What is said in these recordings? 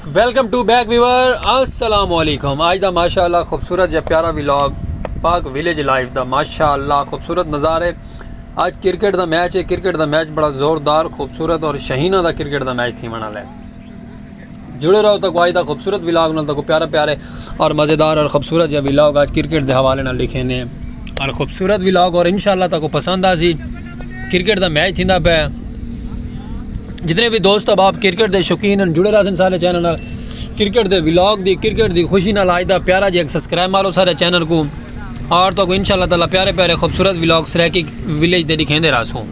welcome to back viewer السلام علیکم آج دا ماشاء اللہ خوبصورت یا پیارا ولاگ پاک ولیج لائف دا ماشاء اللہ خوبصورت نظارے آج کرکٹ دا میچ ہے کرکٹ دا میچ بڑا زوردار خوبصورت اور شہینہ دا کرکٹ دا میچ تھی منا لے جڑے رہو تک آج دا خوبصورت ولاگ نال تک پیارا پیارے اور مزیدار اور خوبصورت یا ولاگ آج کرکٹ دے حوالے نال لکھے نے اور خوبصورت ولاگ اور انشاءاللہ تک پسند آ سی کرکٹ دا میچ تھیندا پہ جتنے بھی دوست اب آپ کرکٹ دے شوقین ہیں جڑے رہا سن سارے چینل نال کرکٹ دے ولاگ دی کرکٹ دی خوشی نال آج دا پیارا جی ایک سبسکرائب مارو سارے چینل کو اور تو کو انشاءاللہ تعالی پیارے پیارے خوبصورت ولاگ سریکی ولیج دے دکھیں دے رہا سوں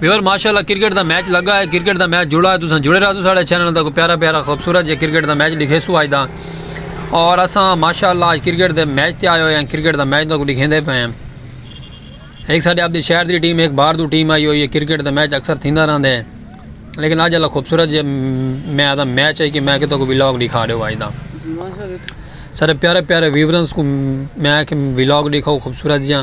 ویور ماشاءاللہ کرکٹ دا میچ لگا ہے کرکٹ دا میچ جڑا ہے تو سن جڑے رہا سو سارے چینل دا کو پیارا پیارا خوبصورت جی کرکٹ دا میچ دکھے سو آج دا اور اساں ماشاءاللہ آج کرکٹ دے میچ تے آئے ہوئے ہیں کرکٹ دا میچ تو دکھیں دے پے ہیں ایک ساڈے اپنے شہر دی ٹیم ایک باہر دو ٹیم آئی ہوئی ہے کرکٹ دا میچ اکثر تھیندا رہندا ہے لیکن اج اللہ خوبصورت جے میں آدھا میچ ہے کہ میں کتوں کو ویلاگ دکھا دیو آج دا سارے پیارے پیارے ویورنس کو میں کہ ویلاگ دکھاؤ خوبصورت جیاں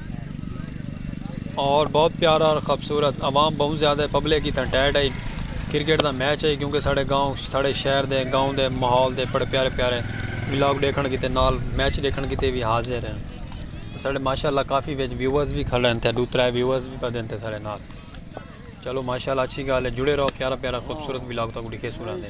اور بہت پیارا اور خوبصورت عوام بہت زیادہ پبلک ہی تھا ٹائٹ ہے کرکٹ دا میچ ہے کیونکہ ساڑھے گاؤں ساڑھے شہر دے گاؤں دے ماحول دے بڑے پیارے پیارے ولاگ ڈیکھن کیتے نال میچ ڈیکھن کیتے بھی حاضر ہیں ساڑھے ماشاءاللہ کافی ویچ ویورز بھی کھلے ہیں تھے دو ترہ ویورز بھی پڑھے ہیں ساڑھے نال چلو ماشاءاللہ اچھی گالے جڑے رہو پیارا پیارا خوبصورت ولاگ تاکو ڈکھے سورا دے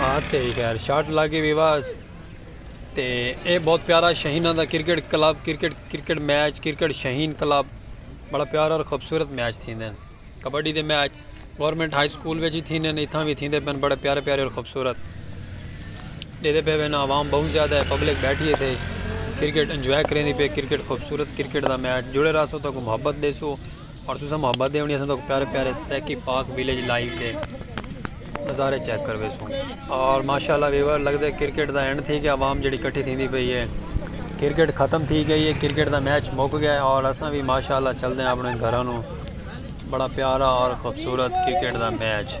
ہاں تے خیر شاٹ لاگے وی واس تے اے بہت پیارا شہینہ دا cricket club cricket cricket match cricket Shaheen club بڑا پیارا اور خوبصورت میچ تھین دین کبڈی دے میچ گورنمنٹ ہائی سکول ویجی تھین دین اتھاں وی تھین دے پین بڑا پیارا پیارا اور خوبصورت دے دے پہ وینا عوام بہت زیادہ ہے پبلک بیٹھی ہے تھے کرکٹ انجوائے کریں دی پہ کرکٹ خوبصورت کرکٹ دا میچ جڑے رہا سو تاکہ محبت دے سو اور تساں محبت دے ہونی اساں تو پیارے پیارے سریکی پاک ویلیج لائیو دے نظارے چیک کر ویسوں اور ماشاءاللہ ویور لگ دے کرکٹ دا اینڈ تھی گیا عوام جڑی کٹھی تھی دی پئی ہے کرکٹ ختم تھی گئی ہے کرکٹ دا میچ مک گیا ہے اور اساں بھی ماشاءاللہ چل دے ہیں اپنے گھرانوں بڑا پیارا اور خوبصورت کرکٹ دا میچ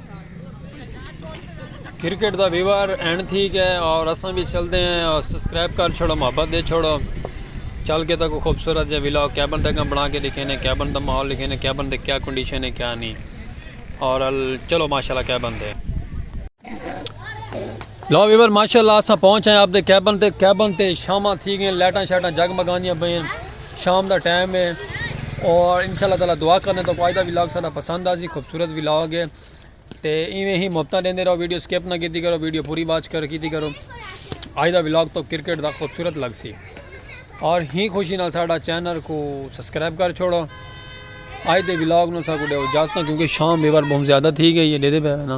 کرکٹ دا ویور اینڈ تھی گیا ہے اور اساں بھی چلتے ہیں اور سبسکرائب کر چھوڑو محبت دے چھوڑو چل کے تک خوبصورت جا ویلا کیبن تک بنا کے لکھے نے کیبن دا ماحول لکھے نے کیبن دے کیا کنڈیشن ہے کیا نہیں اور چلو ماشاءاللہ کیبن دے لو ویور ماشاءاللہ اساں پہنچ ہیں آپ دے کیبن تے کیبن تے شامہ تھی گئے لیٹاں شیٹاں جگ مگانیاں بھئیں شام دا ٹائم ہے اور انشاء اللہ تعالی دعا کرنے تو آج دا ولاگ سارا پسند آسی خوبصورت ولاگ ہے تے ایویں ہی محبتاں دیندے رہو ویڈیو سکپ نہ کیتی کرو ویڈیو پوری واچ کر کیتی کرو آج دا ولاگ تو کرکٹ دا خوبصورت لگ سی اور ہی خوشی نال ساڈا چینل کو سبسکرائب کر چھوڑو آج دے ولاگ نو سا کو دیو اجازت کیونکہ شام بیور بہت زیادہ تھی گئی ہے دے دے پہ نا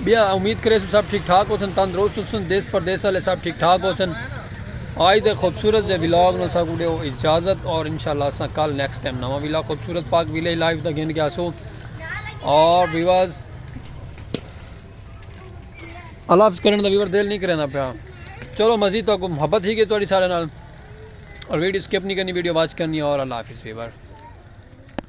بیا امید کریسو سب ٹھیک ٹھاک ہوسن تندرست ہوسن دیس پردیس والے سب ٹھیک ٹھاک ہوسن آج دے خوبصورت دے ویلاگ نو سا گڈے اجازت اور انشاءاللہ اسا کل نیکسٹ ٹائم نواں ویلاگ خوبصورت پاک ویلے لائف دا گھن گیا سو اور ویواز اللہ حافظ کرن دا ویور دل نہیں کرنا پیا چلو مزید تو محبت ہی گئی تھوڑی سارے نال اور ویڈیو سکپ نہیں کرنی ویڈیو واچ کرنی اور اللہ حافظ ویور